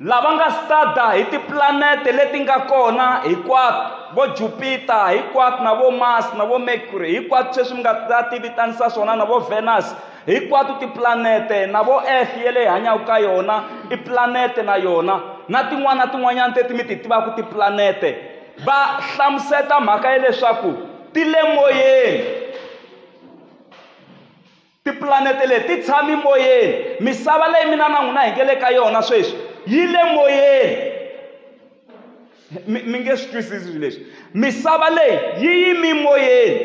lava nga stada hi tiplanete leti nga kona hinkwato vo jupiter hinkwato na vo mars na vo mercury hinkwato sweswi mi nga ta ti vitanisa swona na vo venus hinkwato tiplanete na vo earth ye leyi hanyaka ka yona i planete na yona na tin'wana na tin'wanyana teti mi ti tivaka tiplanete va hlamuseta mhaka ya leswaku ti le moyeni Tipulanete leti ti tshami moyeni. Misava leyi mina na n'wina hi nge le ka yona sweswi yi le moyeni. Mi mi nge swi twisisi swilo leswi. Misava leyi yi yimi moyeni.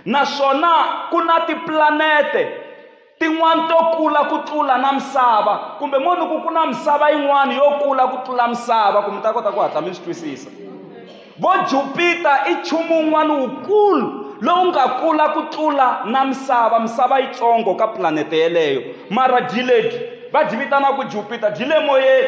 Naswona ku na tipulanete tin'wani to kula ku tlula na misava kumbe mo ni ku ku na misava yin'wani yo kula ku tlula misava ku mi ta kota ku hatla mi swi twisisa. Vo Jupita i nchumu wun'wana wukulu lowu nga kula ku tlula na misava misava yitsongo ka pulanete yeleyo mara byi lebyi va byi vitanaka jupita byi le moyeni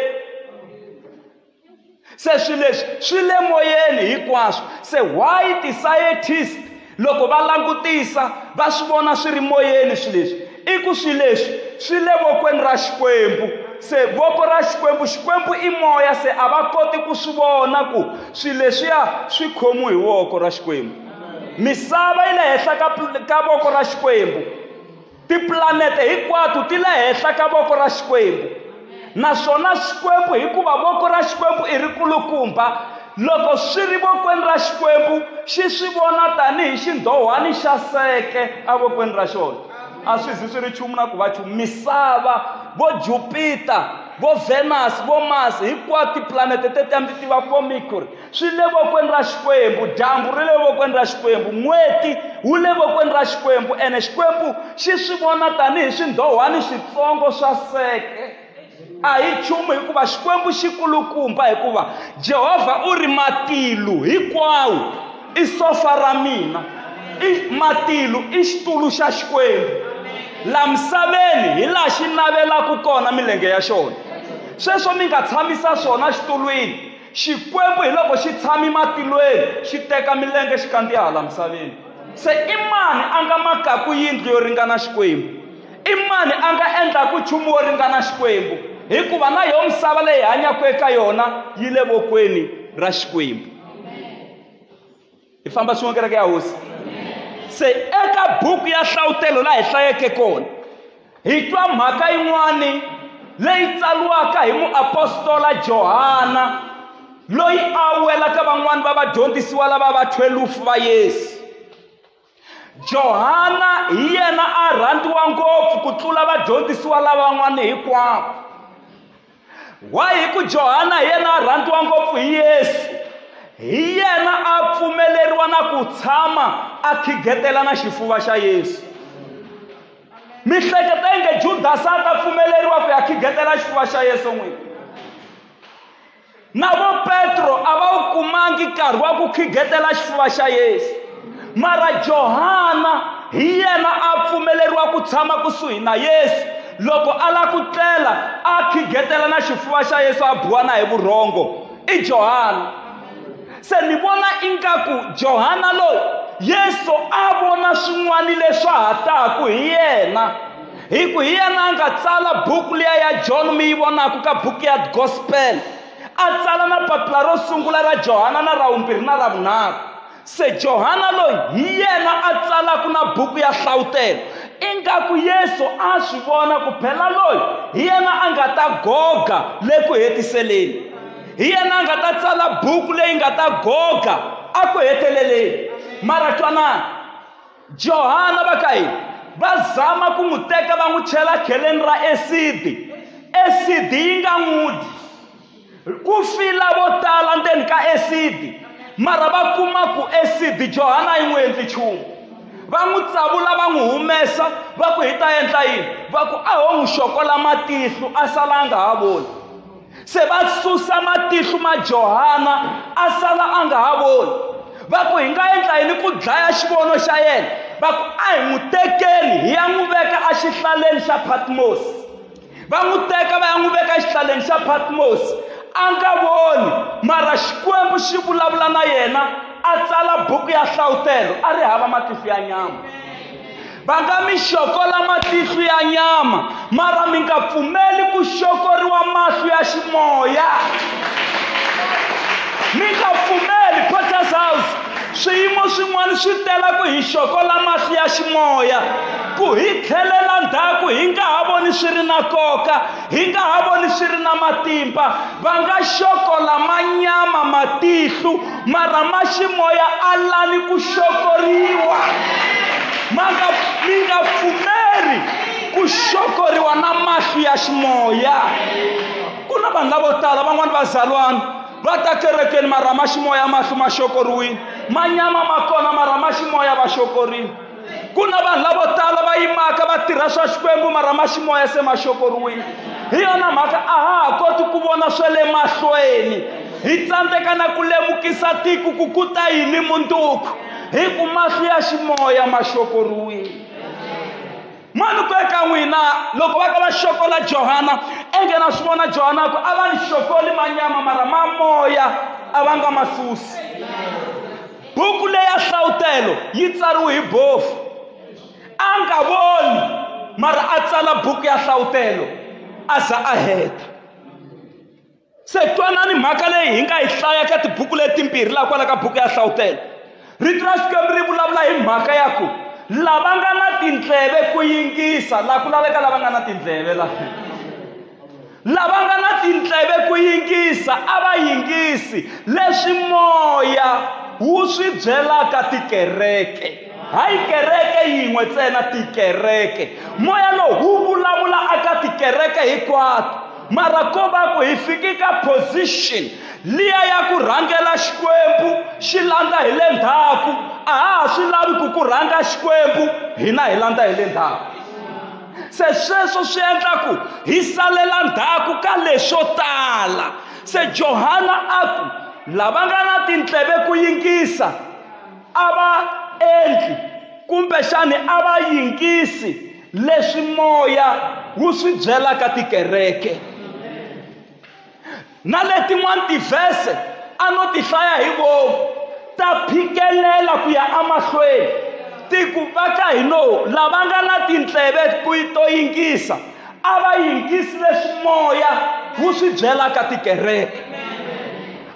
se swi leswi swi le moyeni hinkwaswo se why ti-scientist loko va langutisa va swi vona swi ri moyeni swi leswi i ku swi leswi swi le vokweni ra xikwembu se voko ra xikwembu xikwembu i moya se a va koti ku swi vona ku swi leswiya swi khomiwe hi voko ra xikwembu misava yi le henhla ka ka voko ra xikwembu tipulanete hinkwato ti le henhla ka voko ra xikwembu naswona xikwembu hikuva voko ra xikwembu i ri kulukumba loko swi ri vokweni ra xikwembu xi swi vona tanihi xindhohwani xa seke evokweni ra xona a swi zi swi ri nchumu na ku va nchumu misava vo jupita vo venus vo masi hinkwato tipulanete teti a mi ti tiva vo mercury swi le vokweni ra xikwembu dyambu ri le vokweni ra xikwembu n'weti wu le vokweni ra xikwembu ene xikwembu xi swi vona tanihi swindhohwani switsongo swa seke a hi nchumu hikuva xikwembu xi kulukumba hikuva jehovha u ri matilu hinkwawo i sofa ra mina i matilu i xitulu xa xikwembu la misaveni hi laha xi navelaka kona milenge ya xona sweswo mi nga tshamisa swona xitulwini Xikwembu hi loko xi tshami matilweni xi teka milenge xi kandziya hala misaveni se i mani a nga makaku yindlu yo ringana xikwembu i mani a nga endlaku nchumu wo ringana xikwembu hikuva na yo misava leyi hanyaka eka yona yi le vokweni ra xikwembu hi famba swin'we kereke ya hosi se eka buku ya hlavutelo laha hi hlayeke kona hi twa mhaka yin'wani leyi tsaliwaka hi muapostola johana loyi a welaka van'wani va vadyondzisiwa lava va 12 va yesu Johana hi yena a rhandziwa ngopfu ku tlula vadyondzisiwa lavan'wana hinkwavo. Why hi ku Johana hi yena a rhandziwa ngopfu hi Yesu. Hi yena a pfumeleriwa na ku tshama a khigetela na xifuva xa Yesu. Mi hleketa inge Judasi a ta pfumeleriwa ku ya khigetela xifuva xa Yesu n'wini? na vo petro a va wu kumangi nkarhi wa ku khigetela xifuva xa yesu mara johana hi yena a pfumeleriwa ku tshama kusuhi na yesu loko a lava ku tlela a khigetela na xifuva xa yesu a biwa na hi vurhongo i johana se ni vona ingaku johana loyi yesu a vona swin'wana leswa ha taku hi yena hi ku hi yena a nga tsala buku liya ya john mi yi vonaka ka buku ya gospel a tsala na papila ro sungula ra johana na ra vumbirhi na ra vunharhu se johana loyi hi yena a tsalaka na buku ya hlawutelo ingaku yesu a swi vona ku phela loyi hi yena a nga ta goga le ku hetiseleni hi yena a nga ta tsala buku leyi nga ta goga a ku heteleleni mara twanana johana va ka yini va zama ku n'wi teka va n'wi chela kheleni ra esidi esidi yi nga n'wi dyi ku fila vo tala ndzeni ka esidi mara va kuma ku esidi johana yi n'wi endli nchumu va n'wi tsavula va n'wi humesa va ku hi ta endla yini va ku a ho n'wi xokola matihlo a sala a nga ha voni se va susa matihlo ma johana a sala a nga ha voni va ku hi nga endla yini ku dlaya xivono xa yena va ku a hi n'wi tekeni hi ya n'wi veka exihlaleni xa patmosi va n'wi teka va ya n'wi veka exihlaleni xa patmosi a nga voni mara xikwembu xi vulavula na yena a tsala buku ya hlawutelo a ri hava matihlo ya nyama va nga mi xokola matihlo ya nyama mara mi nga pfumeli ku xokoriwa mahlo ya ximoya mi nga pfumeli potter's house swiyimo swin'wana swi tela ku hi xokola mahlo ya ximoya ku hi tlhelela ndzhaku hi nga ha voni swi ri na nkoka hi nga ha voni swi ri na matimba va nga xokola manyama matihlu mara ma ximoya a lani ku xokoriwa ma nga mi nga pfumeli ku xokoriwa na mahlu ya ximoya ku na vanhu lavo tala van'wani vazalwana va ta kerekeni mara ma ximoya mahlu ma xokoriwile manyama ma kona mara ma ximoya va xokorile ku na vanhu lavo tala va yimaka va tirha swa xikwembu mara ma ximoya se ma xokoriwile hi yona mhaka a ha ha koti ku vona swa le mahlweni hi tsandzeka na ku lemukisa tiko ku ku ta yini munduku hi ku mahlo ya ximoya ma xokoriwile mani ku eka n'wina loko va ka va xokola johana enge na swi vona johana ku a va ni xokoli manyama mara mamoya a va nga ma susi buku leya hlavutelo yi tsariwe hi bofu a nga voni mara a tsala buku ya hlavutelo a za a heta se twanani mhaka leyi hi nga yi hlaya ka tibuku letimbirhi laha kwala ka buku ya hlavutelo rito ra xikwembu ri vulavula hi mhaka ya ku lava nga na tindleve ku yingisa laha ku laveka lava nga na tindleve laha lava nga na tindleve ku yingisa a va yingisi leswi moya wu swi byelaka tikereke hayi kereke yin'we ntsena tikereke moya lowu wu vulavula aka tikereke hinkwato mara ko va ku hi fike ka position liya ya ku rhangela xikwembu xi landza hi le ndzhaku a ha ha swi lavi ku ku rhanga xikwembu hina hi landza hi le ndzhaku se sweswo swi endla ku hi salela ndzhaku ka leswo tala se johana a ku lava nga na tindleve ku yingisa a va endli kumbexani a va yingisi leswi moya wu swi byelaka tikereke na letin'wana tivhese a no ti hlaya hi vomu ta phikelela ku ya emahlweni ti ku va ka hi no lava nga na tindleve to yingisa a va yingisi leswi moya wu swi byelaka tikereke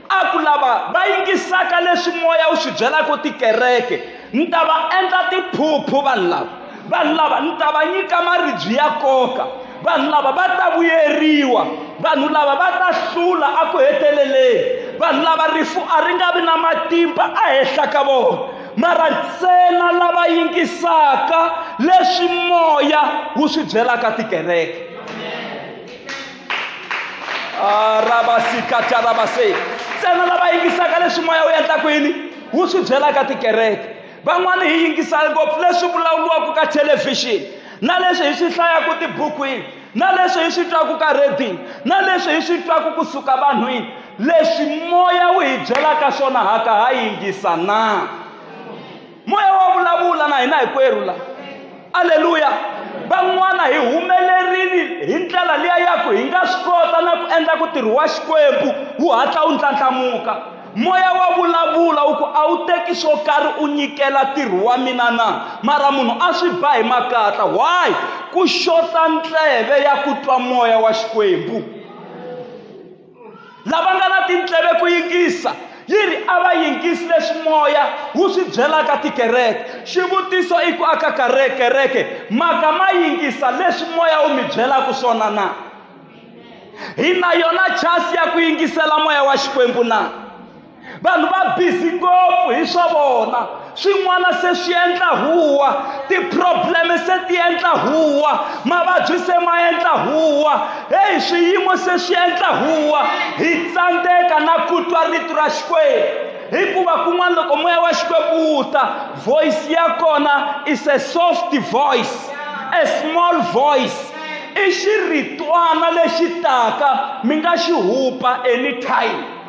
a ku lava va yingisaka leswi moya wu swi byelaka tikereke ni ta va endla tiphuphu vanhu lava vanhu lava ni ta va nyika maribyi ya koka vanhu lava va ta vuyeriwa vanhu lava va ta hlula aku heteleleni vanhu lava rifu a ri nga vi na matimba ahenhla ka vona mara ntsena lava yingisaka leswi moya wu swi byelaka tikereke arabasikatarabase ntsena lava yingisaka leswi moya wu endlaku yini wu swi byelaka tikereke van'wana hi yingisa ngopfu leswi vulavuriwaka ka thelevhixini na leswi hi swi hlayaka tibukwini na leswi hi swi twaka ka redini na leswi hi swi twaka kusuka vanhwini leswi moya wu hi byelaka swona haka ha yingisa na moya wa vulavula na hina hinkwerhu la aleluya van'wana hi humelerile hi ndlela liya ya ku hi nga swi kota na ku endla ku tirhi wa xikwembu wu hatla wu ndlandlamuka moya wa vulavula wu ku a wu teki swo karhi u nyikela ntirho wa mina na mara munhu a swi ba hi makatla why ku xota ndleve ya ku twa moya wa xikwembu lava nga na tindleve ku yingisa yi ri a va yingisi leswi moya wu swi byelaka tikereke xivutiso i ku aka kareke kereke maka ma yingisa leswi moya wu mi byelaka swona na hi na yona chance ya ku yingisela moya wa xikwembu na vanhu va bizi ngopfu hi swa vona swin'wana se swi endla huwa ti-probleme se ti endla huwa mavabyi se ma endla huwa heyi swiyimo se swi endla huwa hi tsandzeka na ku twa rito ra xikwembu hikuva kun'wana loko moya wa xikwembu wu ta voice ya kona is a soft voice a small voice i xiritwana lexi taka mi nga xi hupa anytime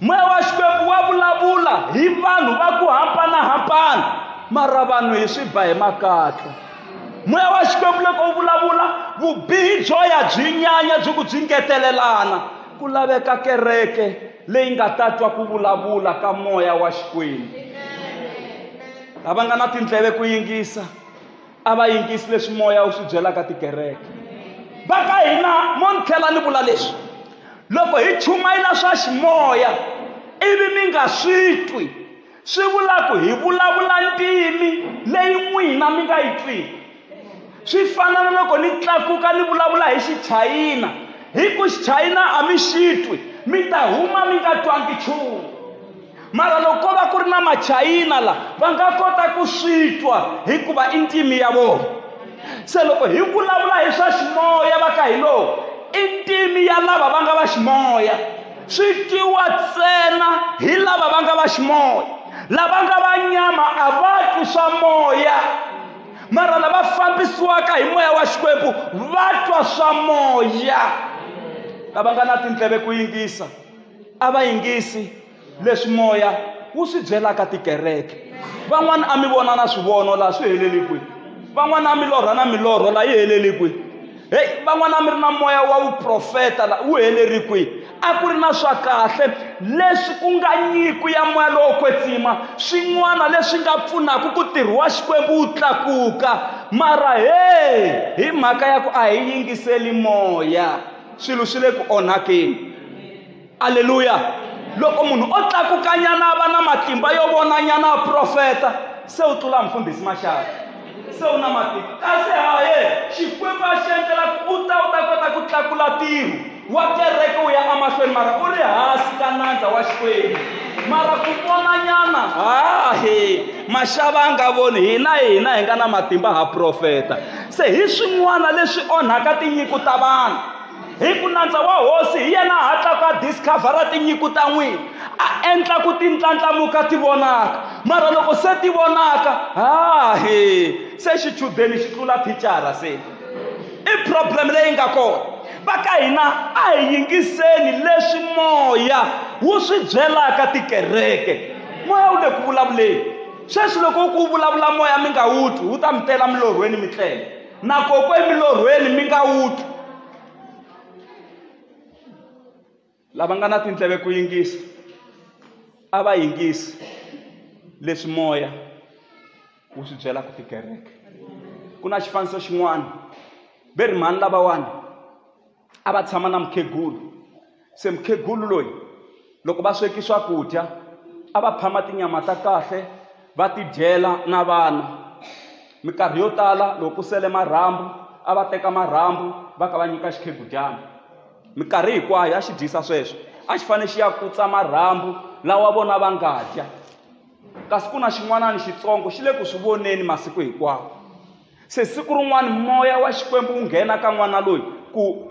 moya wa xikwembu wa vulavula hi vanhu va ku hambanahambana mara vanhu hi swi ba hi makatla moya wa xikwembu loko wu vulavula vubihi byo ya byi nyanya byi ku byi ngetelelana ku laveka kereke leyi nga ta twa ku vulavula ka moya wa xikwembu lava nga na tindleve ku yingisa a va yingisi leswi moya wu swi byelaka tikereke va ka hina mo ni tlhela ni vula leswi loko hi chumayela swa ximoya ivi mi nga swi twi swi vula ku hi vulavula ntimi leyi n'wina mi nga yi twiki swi fana na loko ni tlakuka ni vulavula hi xichayina hi ku xichayina a mi xi twi mi ta huma mi nga twangi nchumu mara loko ko va ku ri na machayina la va nga kota ku swi twa hikuva i ntimi ya vona se loko hi vulavula hi swa ximoya va ka hi lowu i ntimi ya lava va nga va ximoya swi twiwa ntsena hi lava va nga va ximoya lava nga va nyama a va twi swa moya mara lava fambisiwaka hi moya wa xikwembu va twa swa moya lava nga na tindleve ku yingisa a va yingisi leswi moya wu swi byelaka tikereke van'wana a mi vona na swivono laha swi heleli kwihi van'wana a mi lorha na milorho laha yi heleli kwihi heyi van'wana a mi ri na moya wa vuprofeta la wu heleri kwihi a ku ri na swa kahle leswi ku nga nyiko ya moya lowo kwetsima swin'wana leswi nga pfunaka ku tirhi wa xikwembu wu tlakuka mara heyi hi mhaka ya ku a hi yingiseli moya swilo swi le ku onhakeni aleluya loko munhu o tlakukanyana a va na matimba yo vonanyana a profeta se u tlula mfundhisi maxaka se u na matimba kasi haye xikwembu a xi endlela ku u ta u ta kota ku tlakula tiro wa kereke u ya emahlweni mara u ri hansi ka nandza wa xikwembu mara ku vonanyana hahe maxava a nga voni hina hina hi nga na matimba ha profeta se hi swin'wana leswi onhaka tinyiku ta vanhu hi ku nandza wa hosi hi yena a hatlaka a discovhara tinyiku ta n'wina a endla ku ti ndlandlamuka ti vonaka mara loko se ti vonaka ha he se xichudeni xi tlula thicara se i problem leyi nga kona va ka hina a hi yingiseni leswi moya wu swi byelaka tikereke moya wu le ku vulavuleni sweswi loko u ku vulavula moya mi nga wu twi wu ta mi tela milorhweni mi tlela na kokwe emilorhweni mi nga wu twi lava nga na tindleve ku yingisa a va yingisi leswi moya wu swi byelaka tikereke ku na xifaniso xin'wana ve ri mhani lavawani a va tshama na mukhegulu se mukhegulu loyi loko va sweki swakudya a va phama tinyama ta kahle va ti dyela na vana minkarhi yo tala loko ku sele marhambu a va teka marhambu va ka va nyika xikhegudyana minkarhi hinkwayo a xi dyisa sweswo a xi fanele xi ya kutsa marhambu lawa vona va nga dya kasi ku na xin'wanani xitsongo xi le ku swi voneni masiku hinkwawo Se siku rin'wana moya wa Xikwembu wu nghena ka n'wana loyi ku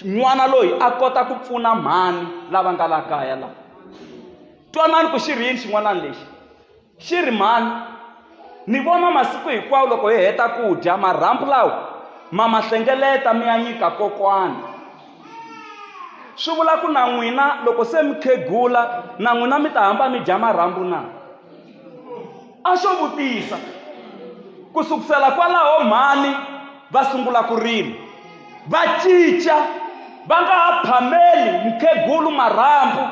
n'wana loyi a kota ku pfuna mhani lava nga la kaya laha twanani ku xi ri yini xin'wanani lexi xi ri mhani ni vona masiku hinkwawo loko hi heta ku dya marhambu lawa ma ma hlengeleta mi ya nyika kokwana swi vula ku na n'wina loko se mi khegula na n'wina mi ta hamba mi dya marhambu na a xo vutisa ku sukusela kwalaho mhani va sungula ku rima va cinca va nga ha phameli mukhegulu marhambu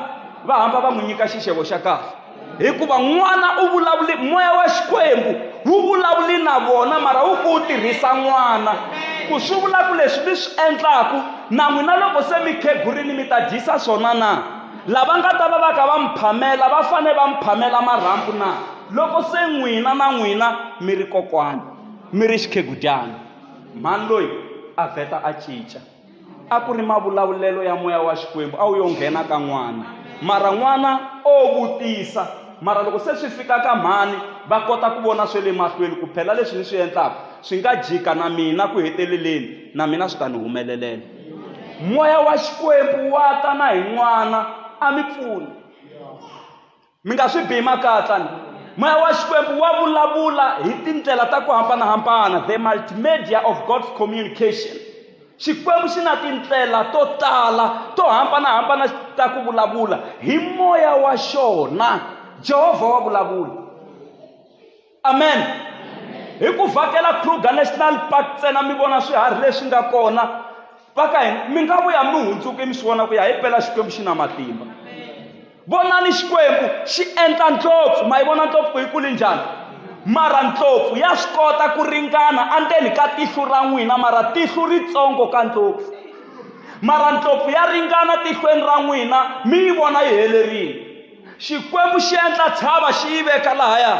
va hamba va n'wi nyika xixevo xa kahle hikuva n'wana u vulavuli moya wa xikwembu wu vulavuli na vona mara wu ku wu tirhisa n'wana ku swi vula ku leswi mi swi endlaku na n'wina loko se mi khegurini mi ta dyisa swona na lava nga ta va va ka va mi phamela va fanele va mi phamela marhambu na loko se n'wina na n'wina mi ri kokwana mi ri xikhegudyana mhani loyi a vheta a cinca a ku ri mavulavulelo ya moya wa xikwembu a wu yo nghena ka n'wana mara n'wana o vutisa mara loko se swi fika ka mhani va kota ku vona swe le mahlweni ku phela leswi ni swi endlaka swi nga jika na mina ku heteleleni na mina swi ta ni humelelela moya wa xikwembu wa ta na hi n'wana a mi pfuni mi nga swi bihi makatla ni moya wa xikwembu wa vulavula hi tindlela ta ku hambanahambana the multimedia of god's communication xikwembu xi na tindlela to tala to hambanahambana ta ku vulavula hi moya wa xona jehovha wa vulavula amen hi ku vhakela kruger national park ntsena mi vona swiharhi leswi nga kona va ka hina mi nga vuya mi hundzuke mi swi vona ku ya hi pela xikwembu xi na matimba vonani xikwembu xi endla ndlopfu ma yi vona ndlopfu ku yi kuli njhani mara ndlopfu ya swi kota ku ringana andzeni ka tihlu ra n'wina mara tihlu ritsongo ka ndlopfu mara ndlopfu ya ringana tihlweni ra n'wina mi yi vona yi helerile xikwembu xi endla tshava xi yi veka lahaya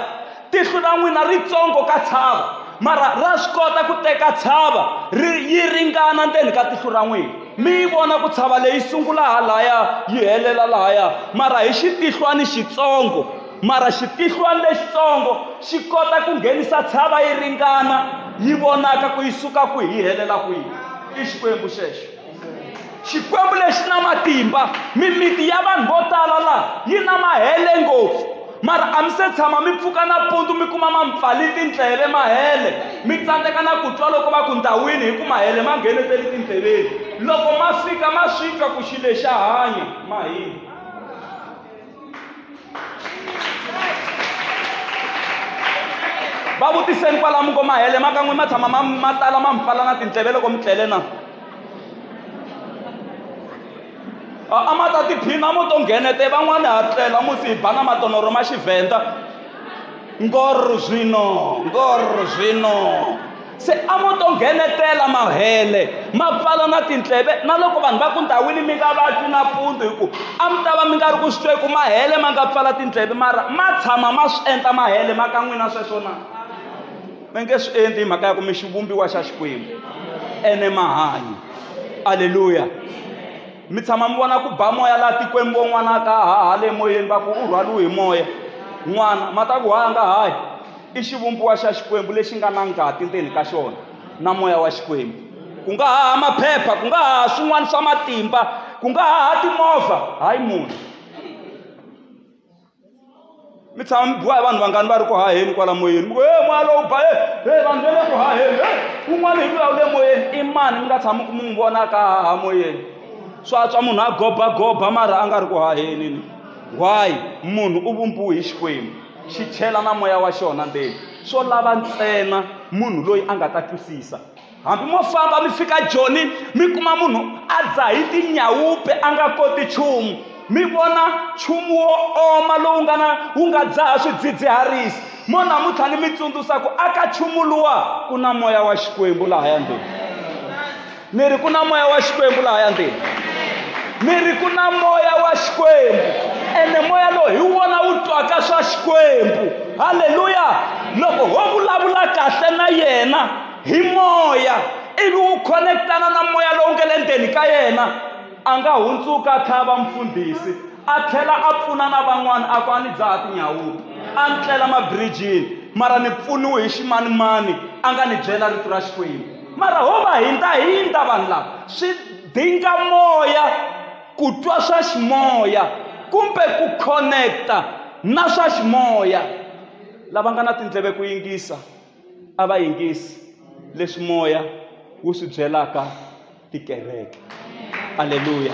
tihlo ra n'wina ritsongo ka tshava mara ra swi kota ku teka tshava ri yi ringana ndzeni ka tihlo ra n'wina mi yi vona ku tshava leyi sungula halaya yi helela lahaya mara hi xitihlwani xitsongo mara xitihlwani lexitsongo xi kota ku nghenisa tshava yi ringana yi vonaka ku yi suka kwihi yi helela kwihi i xikwembu xexo xikwembu lexi na matimba mimiti ya vanhu vo tala laha yi na mahele ngopfu mara a mi se tshama mi pfuka nampundzu mi kuma mampfali tindleve mahele mi tsandzeka na ku twa loko va ku ndhawini hi ku mahele ma ngheneteli tindleveni loko ma fika ma swi twa ku xi lexa hanya mahini va vutiseni kwalamu ko mahele ma kan'we ma tshama ma ma tala ma mi pfala na tindleve loko mi tlele na a a ma ta tiphina mo to nghenete van'wani ha tlela mo si hi ba na matonoro ma xivhenda ngor zwino ngor zwino se a mo to nghenetela mahele mapfalo na tinhleve na loko vanhu va ku ndhawini mi nga vatwi na pfundu hi ku a mi ta va mi nga ri ku swi twa hi ku mahele ma nga pfala tinhleve mara ma tshama ma swi endla mahele ma ka n'wina sweswo na mi nge swi endli hi mhaka ya ku mi xivumbiwa xa xikwembu ene mahanyi aleluya mi tshama mi vona ku ba moya laha tikweni vo n'wana ka haha le moyeni va ku u rhwaliwe hi moya n'wana ma ta ku ha nga hayi i xivumbiwa xa xikwembu lexi nga na ngati ndzeni ka xona na moya wa xikwembu ku nga haha maphepha ku nga haha swin'wana swa matimba ku nga haha timovha hayi munhu mi tshama mi biwa hi vanhu vangani va ri ku haheni kwala moyeni mi ku e moya lowu ba e vanhu va le ku haheni e un'wana hi luya wu le moyeni i mani mi nga tshama ku mi n'wi vonaka haha moyeni swa tswa munhu a gobagoba mara a nga ri ku haheni ni why munhu u vumbiwe hi xikwembu xi chela na moya wa xona ndzeni swo lava ntsena munhu loyi a nga ta twisisa hambi mo famba mi fika joni mi kuma munhu a dzahi tinyawupe a nga koti nchumu mi vona nchumu wo oma lowu nga na wu nga dzaha swidzidziharisi mo namuntlha ni mi tsundzuxa ku aka nchumu luwa ku na moya wa xikwembu laha ya ndheni ni ri ku na moya wa xikwembu laha ya ndheni ni ri ku na moya wa xikwembu ene moya lowu hi wona wu twaka swa xikwembu halleluya loko ho vulavula kahle na yena hi moya ivi u khonekitana na moya lowu nga le ndzeni ka yena a nga hundzuka a tlhava mfundhisi a tlhela a pfuna na van'wana a ku a ni dzaha tinyawuti a ni tlela mabirijini mara ni pfuniwe hi ximanimani a nga ni byela rito ra xikwembu mara ho va hindza hindza vanhu lava swi dinga moya ku twa swa ximoya kumbe ku khoneketa na swa ximoya lava nga na tindleve ku yingisa a va yingisi leswi moya wu swi byelaka tikereke aleluya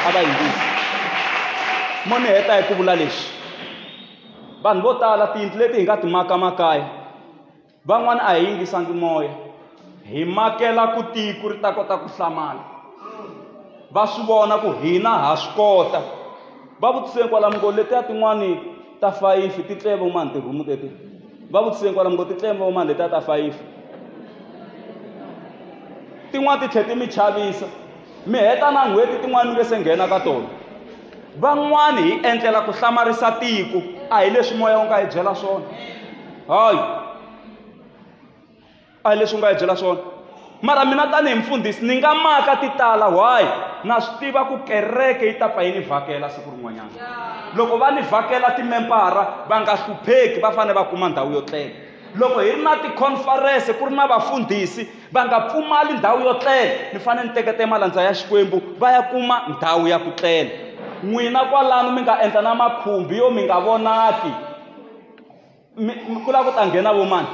a va yingisi mo ni heta hi ku vula leswi vanhu vo tala tiyindlu leti hi nga ti maka makaya van'wana a hi yingisangi moya hi makela ku tiko ri ta kota ku hlamala va swi vona ku hina ha swi kota va vutiseni kwalamo ngo letiya tin'wani ta fayifi ti tleve mani tirhumu teti va vutiseni kwalamo ngo ti tleve mani letiya ta fayifi tin'wani ti tlhela ti mi chavisa mi heta na n'hweti tin'wani mi nge se nghena ka tona van'wani hi endlela ku hlamarisa tiko a hi leswi moya wu nga hi byela swona hayi a hi leswi u nga hi byela swona mara mina tanihi mfundhisi ni nga maka ti tala why na swi tiva ku kereke yi ta pfa yi ni vhakela siku rin'wanyana loko va ni vhakela timembara va nga hlupheki va fanele va kuma ndhawu yo tlela loko hi ri na tikhonferense ku ri na vafundhisi va nga pfumali ndhawu yo tlela ni fanele ni tekete malandza ya xikwembu va ya kuma ndhawu ya ku tlela n'wina kwalano mi nga endla na makhumbi yo mi nga vonaki ku lava ku ta nghena vo mani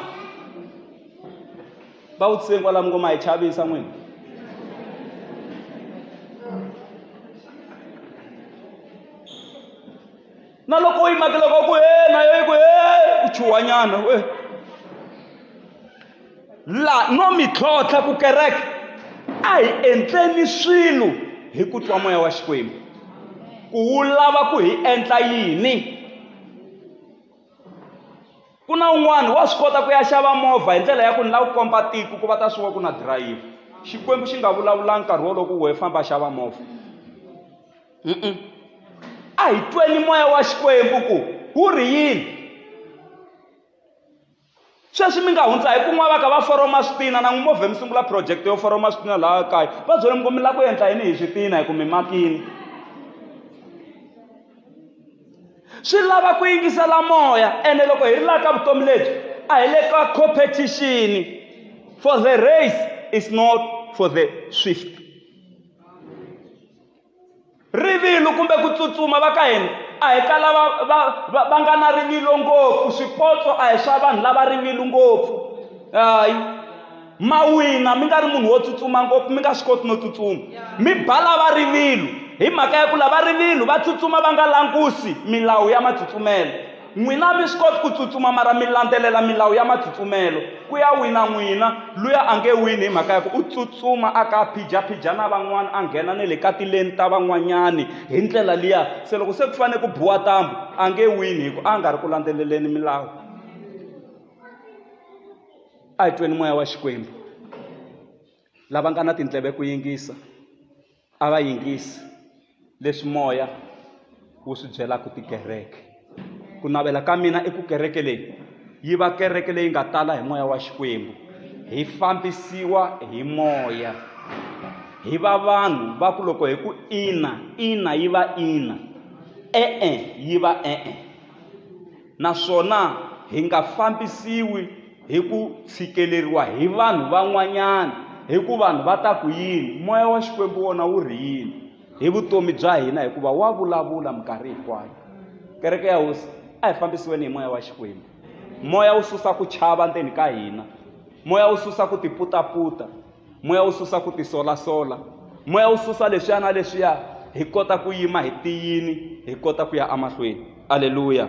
va vutiseni kwalamu ngo ma hi chavisa n'wini na loko u yi makela ka ku he na yo yi ku he u chuhwanyana we la no mi tlhontlha ku kereke a hi endleni swilo hi ku twa moya wa xikwembu ku wu lava ku hi endla yini ku na un'wana wa swi kota ku ya xava movha hi ndlela ya ku ni lava ku komba tiko ku va ta swi wa ku na dirayivha xikwembu xi nga vulavulanga nkarhi wolowo ku wehe famba xava movha a hi tweni moya wa xikwembu ku wu ri yini sweswi mi nga hundza hi kun'wana va ka va foroma switina na n'wi movhe mi sungula project yo foroma switina laha kaya va byele mi ku mi lava ku endla yini hi switina hi ku mi makini swi lava ku yingisela moya ene loko hi ri laha ka vutomi lebyi a hi le ka competition for the race is not for the swift rivilo kumbe ku tsutsuma va ka hina a hi ka lava va va va nga na rivilo ngopfu swipotso a hi swa vanhu lava rivilo ngopfu hayi ma wina mi nga ri munhu wo tsutsuma ngopfu mi nga swi koti no tsutsuma mi ba lava rivilo hi mhaka ya ku lava rivilo va tsutsuma va nga langusi milawu ya matsutsumelo N'wina a mi swi koti ku tsutsuma mara mi landzelela milawu ya matsutsumelo. Ku ya wina n'wina, luya a nge wini hi mhaka ya ku u tsutsuma a ka a phijaphija na van'wana, a nghena na le ka tileni ta van'wanyani hi ndlela liya. Se loko se ku fanele ku biwa ntambhu, a nge wini hi ku a nga ri ku landzeleleni milawu. A hi tweni moya wa Xikwembu. Lava nga na tindleve ku yingisa. A va yingisi leswi moya wu swi byelaka tikereke ku navela ka mina i ku kereke leyi yi va kereke leyi nga tala hi moya wa xikwembu hi fambisiwa hi moya hi va vanhu va ku loko hi ku ina ina yi va ina e-e yi va e-e naswona hi nga fambisiwi hi ku tshikeleriwa hi vanhu van'wanyana hi ku vanhu va ta ku yini moya wa xikwembu wona wu ri yini hi vutomi bya hina hikuva wa vulavula minkarhi hinkwayo kereke ya hosi a hi fambisiweni hi moya wa xikwembu moya wu susa ku chava ndzeni ka hina moya wu susa ku tiputaputa moya wu susa ku tisolasola moya wu susa leswiya na leswiya hi kota ku yima hi tiyini hi kota ku ya emahlweni aleluya